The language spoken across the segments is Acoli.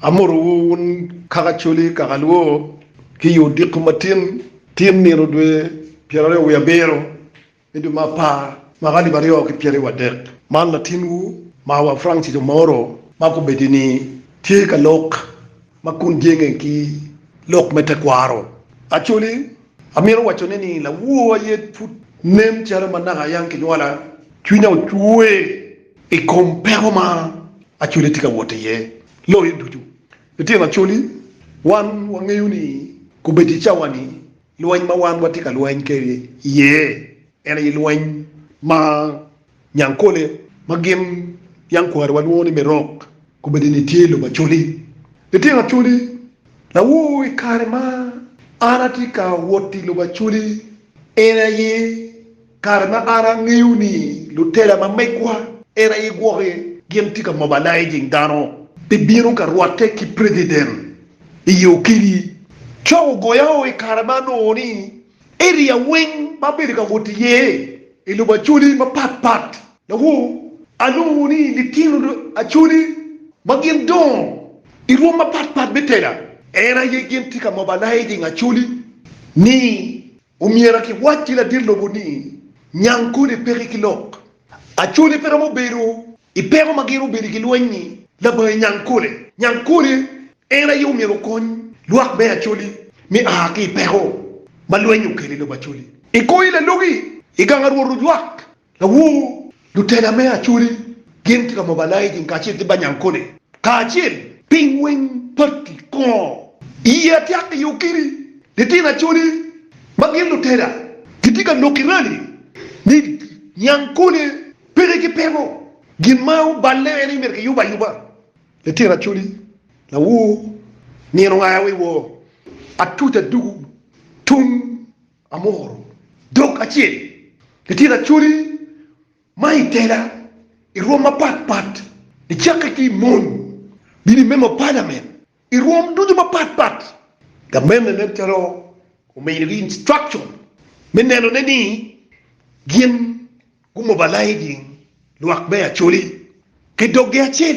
Amotowu wun kaka coli, kaka lwo, ki i odiko matin, tin nino dwe pyeraryo wiye abiro, ni dwe ma apar ma ka libaryo ki pyeraryo wadek. Man latinwu ma wa Francis Omoro ma kobedo ni tye ka lok ma kun jenge ki lok me tekwaro. Acholi, amito wacone ni lawor aye pud nen calo ma naka ayang kinywala, cwinya ocwer. I kom peko ma Acholi tye ka wot iye loyo ducu, litino Acholi, wan wangeyo ni kobedi i cawa-ni, lweny ma wan watye ka lweny kwede iye en aye lweny ma Nyankole ma gin yankwariwa lwongo ni me rok kobedi-ni tye i lobo Acholi. Litino Acholi, lawor i kare ma an atye ka wot i lobo Acholi en aye Kare ma an angeyo ni lutela ma megwa en aye gwoke gin tye ka mobilizing dano pi bino ka rwatte ki president i yo kidi, cok ogoya o i kare ma anongo ni area weng ma abedo ka wot iye i lobo Acholi mapat pat lawo anongo ni litino Acholi ma gin dongo i rwom mapat pat me tela en aye gin tye ka mobilizing Acholi ni Omyera kiwac ki ladit lobo ni, Nyang kodi peki ki lok. Acholi pe romo bedo i peko ma gin obedo i gilweny-nyi labange nyang kole. Nyang kole en aye omyero okony lwak me Acholi me a ki i peko ma lweny okelo i lobo Acholi. I koi lalogi, i gang a rwot olwak Lawor, lutela me Acholi gin ki Lamobalayicin kacel ki Banyankole kacel ki weng patti kongo i ye atyak i yo kini? Litino Acholi ma gin lutela gitye ka lok ki rali ni Nyankole peke ki peko. Gin ma oballe en ni myero kiyub ayuba. Litino Acholi, lawor, nino ongaya wa i wor atuca dugu tung Amoro dog acel ni tira coli ma i tela i rwom mapat pat nicakke ki i mony bino i memo Parliament i rwom ducu mapat pat. Gamente nen calo omiyo gi instruction me neno ne ni gin gu mobilizing lwak me Acholi ki dog gi acel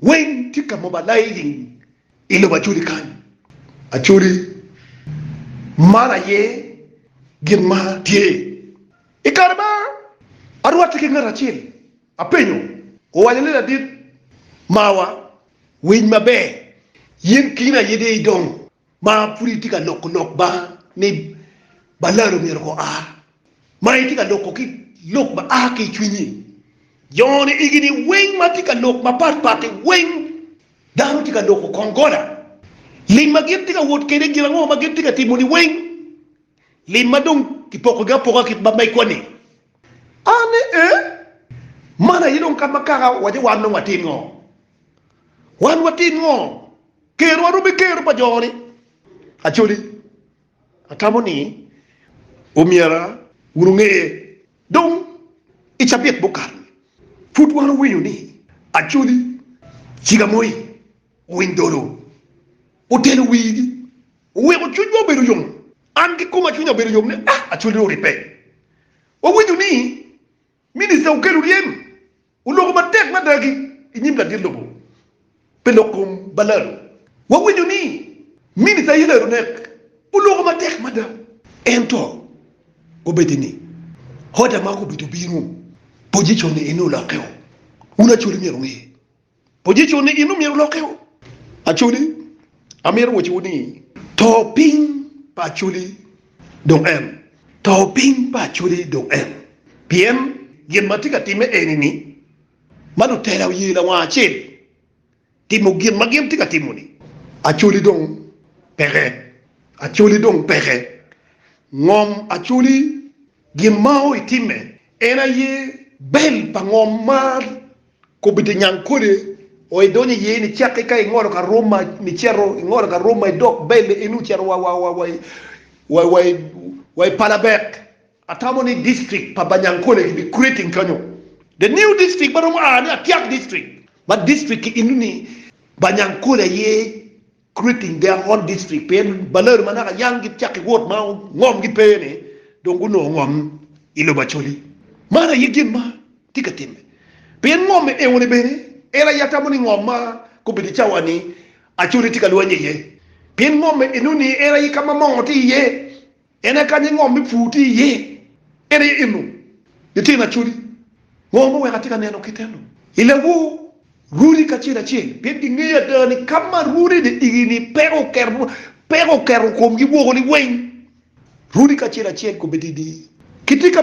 Weng tye ka moba laing i lobo Acholi kany. Acholi man aye gin ma tye. I kare ma arwatte ki ngat acel, apenyo, owaco ni, Ladit mawa, winy maber, yen kino aye dee idong. Ma pud itye ka loko lok banga ni balado myero ko a, ma itye ka loko ki lok ma a ki i cwinyi. Joni egini weng ma tye ka lok mapat pati weng dano tye ka loko kong gola. Lim ma gin tye ka wot kede gin ango ma gin tye ka timo ni weng lim ma dong ki poko gi apoka kit ma megwa ni. A ni e, man aye dong kama kaka waco wan dong watim ngo? Wan watim ngo? Ker wa romi ker pa jo ni Acholi atamo ni omyera wunu ngeye dong i cabit mukato ni pud wan owinyo ni Acholi ciga moi winy dolo otelo wii gi oweko cwiny wa obedo yom an ki kuma cwinya obedo yom ni ah Acholi oripe wawinyo ni Minista Okello Oryem oloko matek mada ki i nyim ladit lobo pi lok kom Balalo. Wawinyo ni Minista Hillary Onek oloko matek mada ento obedi ni order ma gubedo bino pozicon-ne en olokkeo. Wun Acholi myero wuye. Position ni in omyero olokke o. Acholi, amito woco wu ni to piny pa Acholi dong en, to piny pa Acholi dong en, pien gin ma tye ka timme eni ni, ma lutela oye lawang acel timo gin ma gin tye ka timo ni, Acholi dong peke, Acholi dong peke, ngom Acholi gin ma o itimme en aye bel pa ngom ma Kobbi te nyang kode o idonyo iye ni cakke ka ingolo ka roma ni cito ingolo ka roma idok belle eno ocito wa wa wa wa wa wa i palabek atamo ni district pa banyankole ki bi creating kanyo the new district ma romo a ni atiak district ma district ki eno ni banyankole aye creating their own district pien balor ma naka yang gicaki wot ma ngom gi pe ni dong gunongo ngom i lobo Acholi man aye gin ma tye ka timme pien ngom eoni bene en aye atamo ni ngom ma gubedo cawa ni Acholi tye ka lwanye iye pien ngom enoni en aye ka ma moo tye iye. En aye kany ingom me pur tye iye. En aye eno litino acholi. Ngo ma oweko atye ka neno kite eno? I lawor, runi kacel acel, pien gingeyo ada ni ka ma runi de igi ni peko oketo komgi woko liweng. Runi kacel acel kobeddi ni, Kitye ka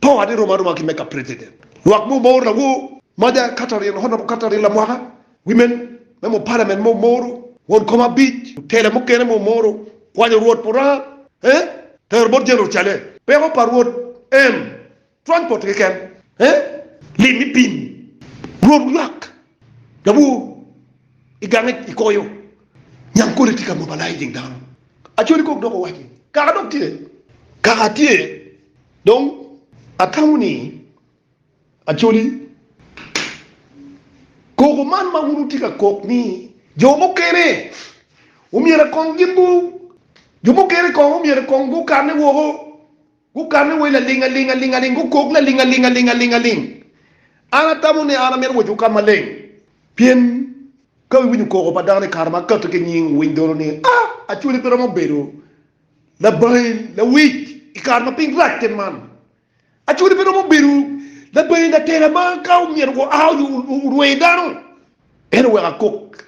Power ne rom aroma ki mega president lwak mo mouru lawor maja Catherine honorable Catherine lamwaka women me mo parliament mo mouru won kom abic otela mukene mo mouru kwanyo rwot puraa eh tero bot general chale peko pa rwot em transport keken eh lim me piny rwot wulwak lawor igange ikoyo nyang kole tye ka mobilizing dano acholi kok dok owaci kaka dok tye kaka tye. Dong atamo ni acoli koko man ma wun wutye ka kok ni jo mukene omyero kong gin gu jo mukene kong omyero kong gukane woko, gukane wa i laling aling aling aling, gukok laling aling aling aling aling. An atamo ni an amito wocowu ka maleng pien ka iwinyo koko pa dano i kare ma kati ki nying wuwiny dolo ni, Ah, acoli pe romo bedo Labain, lawic i kare ma piny rac te man, acode pe romo bedo labain atela ma ka omyero oa onyo orwee dano en oweko akok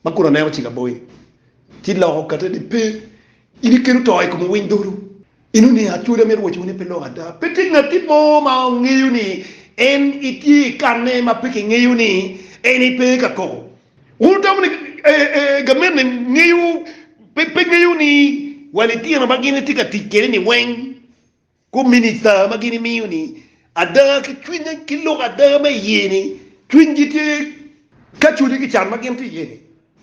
ma kun aneno cik aboyi ci loko kate ni pe in ikelo to i kom owiny dolo. Inu ni acode amyero owaci wu ni pe loko ada, pe tye ngat kit mo ma ongeyo ni en itye i kanne ma pe kingeyo ni en pe ka koko. Wun wudoko ni gamente ngeyo pe ngeyo ni wa litino ma gin itye ka tic kwede ni weng ku minista ma gin imiyo ni ada ki cwiny ki lok ada me iye ni cwiny gi tye ka culi ki can ma gin tye iye ni.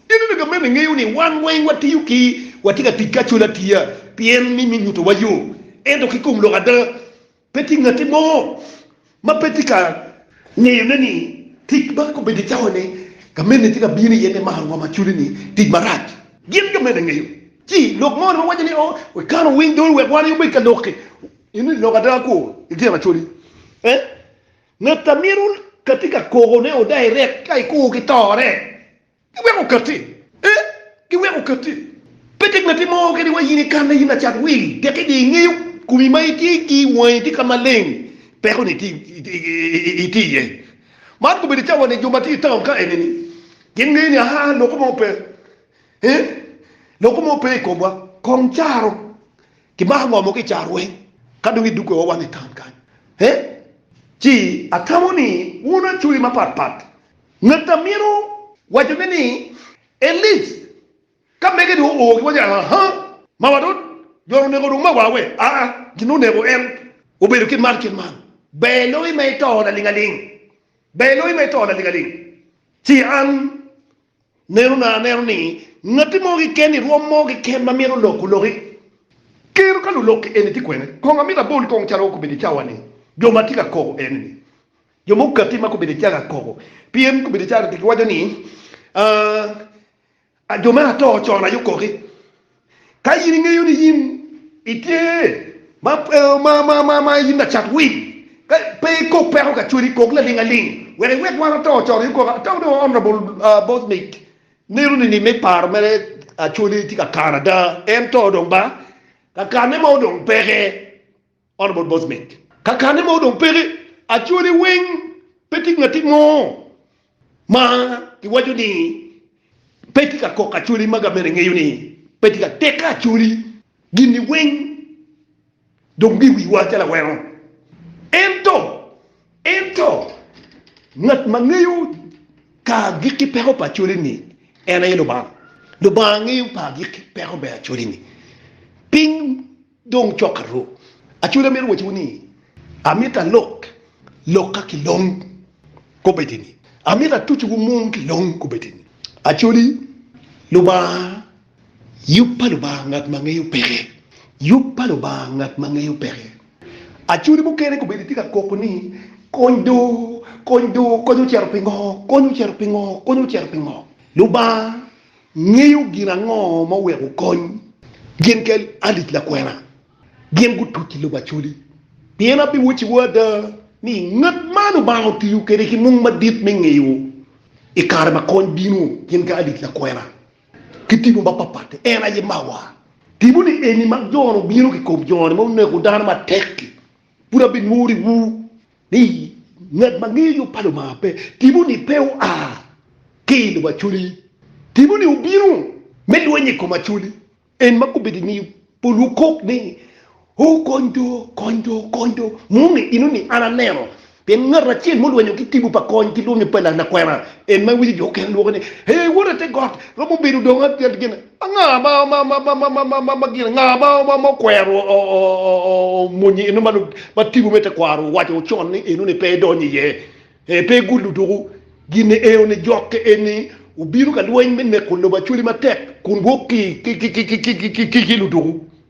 Iyuto ni gamente ngeyo ni wan weng wa tiyo ki wa tye ka tic ki acol atiya pien me me nyuto wa yo ento ki kom lok ada Pe tye ngatti mo ma pe tye ka ngeyone ni tic ma kobedo cawani gamente tye ka bino iye me maro ngom acudi ni tic marac. Gin gamente ngeyo ci lok moni ma waco ni o wekana owiny doli wek wan aye obed ka loki ini lok ada kwo ityen acudi e ngat amito katye ka koko ne oda irek ka ikwo ki tore Giweko katti, ee, giweko katti. Pe tek latin mo keken iwa in ikanna, in lacat wil, tek idye ingeyo komi ma itye ki wangi tye ka maleng, peko ni itye iye. Man gubedo cawa ni jo ma tye itaun ka eni ni gin ngeyo ni aha, loko mo pe, ee, loko mo pe ikomwa, kong caro, ki mako ngo mo ki caro weng ka dong idugge wa wang itaun kany, ee. Ci atamo ni wun acoya mapat pat. Ngat amito wacone ni Eliz ka mege dong oo giwaco aa haa mawa dot dot oneko dong mawa we aa gin oneko en obedo kit man kit man ber loyo ma ito laling aling ber loyo ma ito laling aling ci an neno na aneno ni ngati mo kiken ni rwom mo kiken ma mito lok oloki kero ka lulok eni ti kwene kong amito abol kong calo okobedi cawa ni jo ma tye ka kobo eni ni. Jo mogo kati ma gubedo calo akobo, pien gubedo calo ati, giwaco ni, Aa, jo me ato ocon aye okoki. Ka in ingeyo ni in itye ma, ma, ma in lacat winy, ka pe ikok peko ka cweri, kok laling aling, wek iwek wan ato ocon aye okoki. Ata wa dong Honourable Bosnic neno ni ni me paro mere Acholi tye ka kano ada, en to dong ba, ka kane mo dong peke. Honourable Bosmic. Kakane ma odong peke, actually weng pe tye ngat mo ma iwaco ni pe tye ka kok actually ma gamen engeyo ni pe tye ka teke actually gini weng dong tye i wiwa calo aweno ento ento ngat ma ngeyo ka agikki peko pa actually ni en aye Lubanga. Lubanga ngeyo pa agikki peko me actually ni piny. Dong cok aruk acwele amito waciwu ni, amito alok lokka ki long kobedini, amito atucciwu mung ki long kobedini. Acoli Lubanga, yub pa Lubanga ngat ma ngeyo peke, yub pa Lubanga ngat ma ngeyo peke. Acoli mukene kobedi tye ka koko ni, Kony do, kony do, kony ocito pingo, kony ocito pingo, kony ocito pingo. Lubanga Ingeyo gin ango ma oweko kony gin ki alic lakwena gin gutuc i lobo Acholi? Pien abiwocciwu ada ni, i nget man Lubanga otiyo kwede ki mung madit me ngeyo i kare ma kony bino gin ki alic lakwena ki tipo mapapat. En aye mawa. Tipo ni eni ma jone obino ki kom jone ma oneko dano matek-ki, pud abinworiwu Ni, Ngat ma ngeyo yo pa Lubanga pe. Timo-ni pe oa ki i lobo acwali. Timo-ni obino me lweny i kom acwali. En ma kobbe di ni, Pol wukok ni, O, kony do, kony do, kony do! Moni ino ni an aneno. Pien ngat acel mulwenyo ki timo pa kony ki lwonyo pa lanakwena, en ma winyo jo okene lwoko ni, Ee, wota te got, romo bedo dong gin. Anga ma gin anga ma okwero omwonyo eno ma tipo me tekwaro owaco con ni eno ni pe edonyo iye? Pe igullu duku. Gin eo ni jokke eni obino ka lweny me neko lobo Acholi matek kun gwok ki luduku.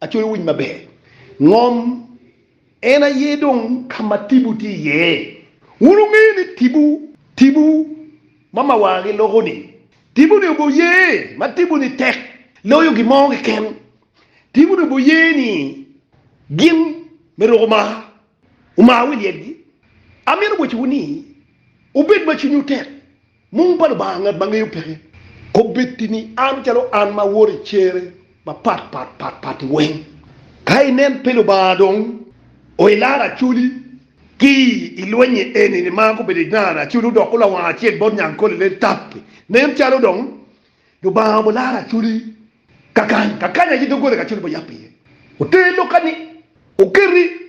Acoyo winyi maber. Ngom, En aye dong ka ma tipo tye iye. Wun wungeyo ni tipo, tipo ma mawagi loko-ni, tipo-ni oboye ma tipo-ni tek loyo gin mo keken. Tipo-ni oboye ni gin me ruko mar, omar wi lyetgi. Amito bocciwu ni wubed ma cwinywu tek. Mung pa Lubanga, Ngat ma ngeyo peke kobbetti ni an calo an ma awoto i cere mapat pat pat patti weng. Ka inen pi Lubanga dong oilar aculi ki i lwenye eni ni ma gubedo i nara aculi odoko lawanga acel bot nyang kole lel tappi. Nen calo dong Lubanga obo lar aculi kakany kakany aye doggola kacel obo yap iye. Oter lok ka ni oketi.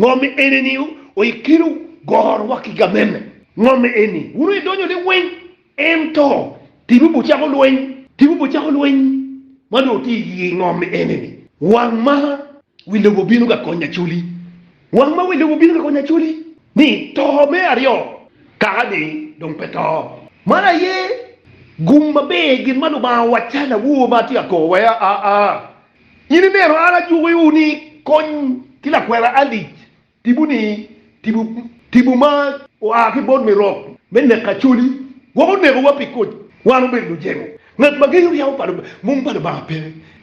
Ngo me eni ni oikino goro wa ki gamene? Ngo me eni wun oye donyo ni weng en to tibu bu cako lweny? Tibu bu cako lweny ma dong ti iye? Ngo me eni ni wang ma wi lobo bino ka konyo Acholi? Wang ma wi lobo bino ka konyo Acholi ni to me aryo kaka ni dong pe to. Man aye gum maber gin ma Lubanga owaccana wu ma atye ka kobo wa ya aa. In ineno an ajukiwu ni kony ki lakwena Alic tipo ni tipo, tipo ma oa ki bot mirok me neko Acholi woko nekowa pi koc wan obedo lujemo. Ngat ma genyo ryeko pa mom pa Lubanga pe.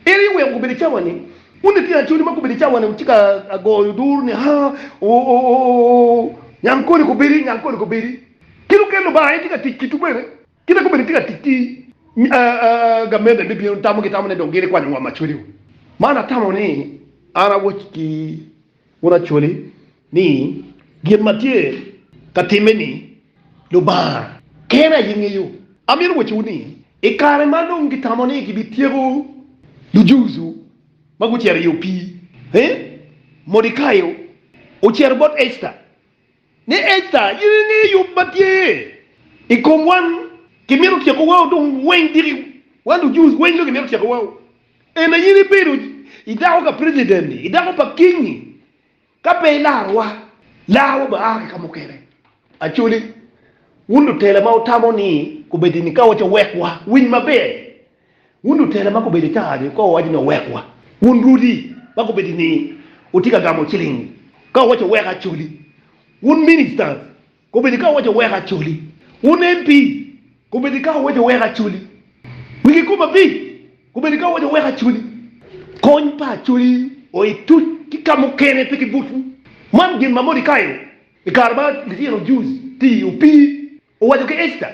En aye oweko gubedo i cawa ni. Wun litino Acholi ma gubedo i cawa ni wucika agoyo duru ni haa ooh ooh ooh nyang koni kobedi nyang koni kobedi. Kit okel Lubanga en tye ka tic kitu bene. Kite kome ni tye ka tic ki gamente me bino tamo gitamo ni dong gin ikwanyo ngom Acholi o. Man atamo ni an awoc ki un Acholi ni gin ma tye ka timme ni Lubanga kene aye ngeyo. Amito wocowu ni i kare ma dong gitamo ni gibityeko Lujuju ma gucito i opii, Modikayo ocito bot Ecta. Ni Esta, in ingeyo yub ma tye i kom wan, kimito tyeko wau dong weng diki wan du Jews weng dong kimito tyeko wau. En aye in ibedo i dako ka president ni, i dako pa king ni, ka pe ilaro wa, laa wa ba aa ki ka mukene. Acholi, wun lutela ma wutamo ni kubedini ka waco wek wa winy maber. Wun lutela ma gubedo i taha-ni, wukob awaca ni, 'Owekwa. Wun rudi ma gubedo i niye, wutye ka gamo ciling ka wuwaco ni, 'Wek acoli. Wun ministers gubedo ka wuwaco ni, 'Wek acoli. Wun MP gubedo ka wuwaco ni, 'Wek acoli. Wigi kom abic gubedo ka wuwaco ni, 'Wek acoli. Kony pa acoli oa i tuc ki ka mukene, pe ki butwu. Man gin ma Mordecai i kare ma litino Jews ti opii Owaco ki Esta.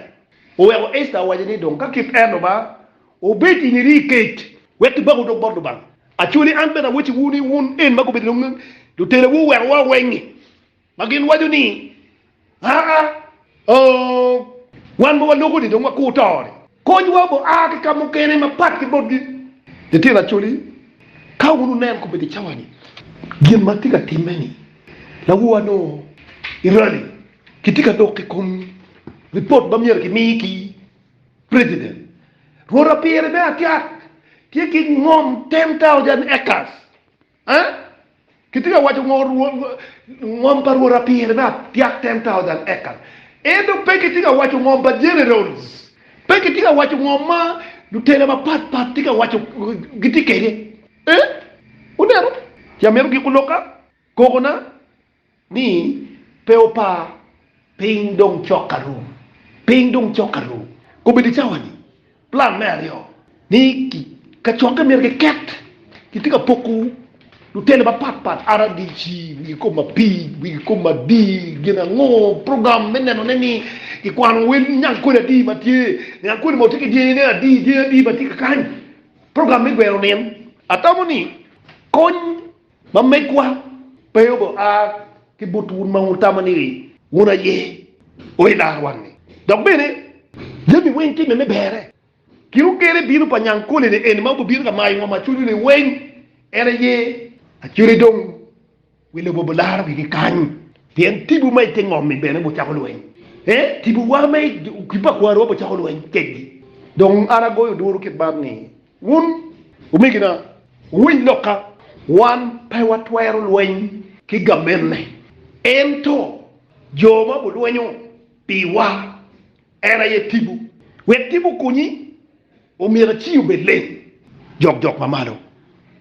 Oweko Esta owaco ni, Dong ka kit en oba, obed in iri i kec, wek kibak odok bot Lubanga. Aco ni an bene awacciwu ni wun en ma gubedo nongo lutelawu owekowa weng-ngi, ma gin waco ni, Aa, oo, wan ma waloko-ni dong wakur to-ni. Konywa obo a ki ka mukene mapat ki botgi. Litino Acholi, Ka wun wunen kobedi i cawa-ni gin ma tye ka timme-ni, lawu anongo i rali, kitye ka dok i kom ripot ma myero kimi ki President. Rwot Apire me Acat tye ki ngom 10,000 acres Ee, kitye ka waco ngom pa rwot apire me apyak ten taocan ekal. Ento pe kitye ka waco ngom pa generals, pe kitye ka waco ngom ma lutela mapat pat tye ka waco gitye kwede. Ee, wuneno? Ci amito giko lokka, koko na. Ni, Pe wupar, piny dong cok ka rum. Piny dong cok ka rum. Kobedo i cawa-ni, plan me aryo ni kacokke myero kiket. Kitye ka poko lutele mapat pat, RDC, wi kikome abic, wi kikome adi, gin ango, program me nenone ni kikwano wel niang kodi adi ma tye, niang kodi ma watye ki dyengine adi, dyengi adi ma tye kakany, program me gweno nin. Atamo ni kony Ma megwa pe obo a ki but wun ma wutamo ni wun aye o i laro wangi. Dok bene, jami weng timme me berre. Kin ogerre bino pa nyang kole-ni eni ma obibino ka mayo ngom ma cwinyu liweng, en aye acwele dong wi lobo obo laro gigi kany. Pien tibu ma i te ngom-mi bene obo cako lweny, ee, tibuwa ma i kipa kwarwa obo cako lweny kekgi. Dong an agoyo duru kit man ni, Wun omegina, wuwiny lokka. Wan pe watwero lweny ki gamenne, ento jo ma gulwenyo piwa, en aye tipo. Wek tipo okonyi, omyero aci obed leng jokjok mamalo.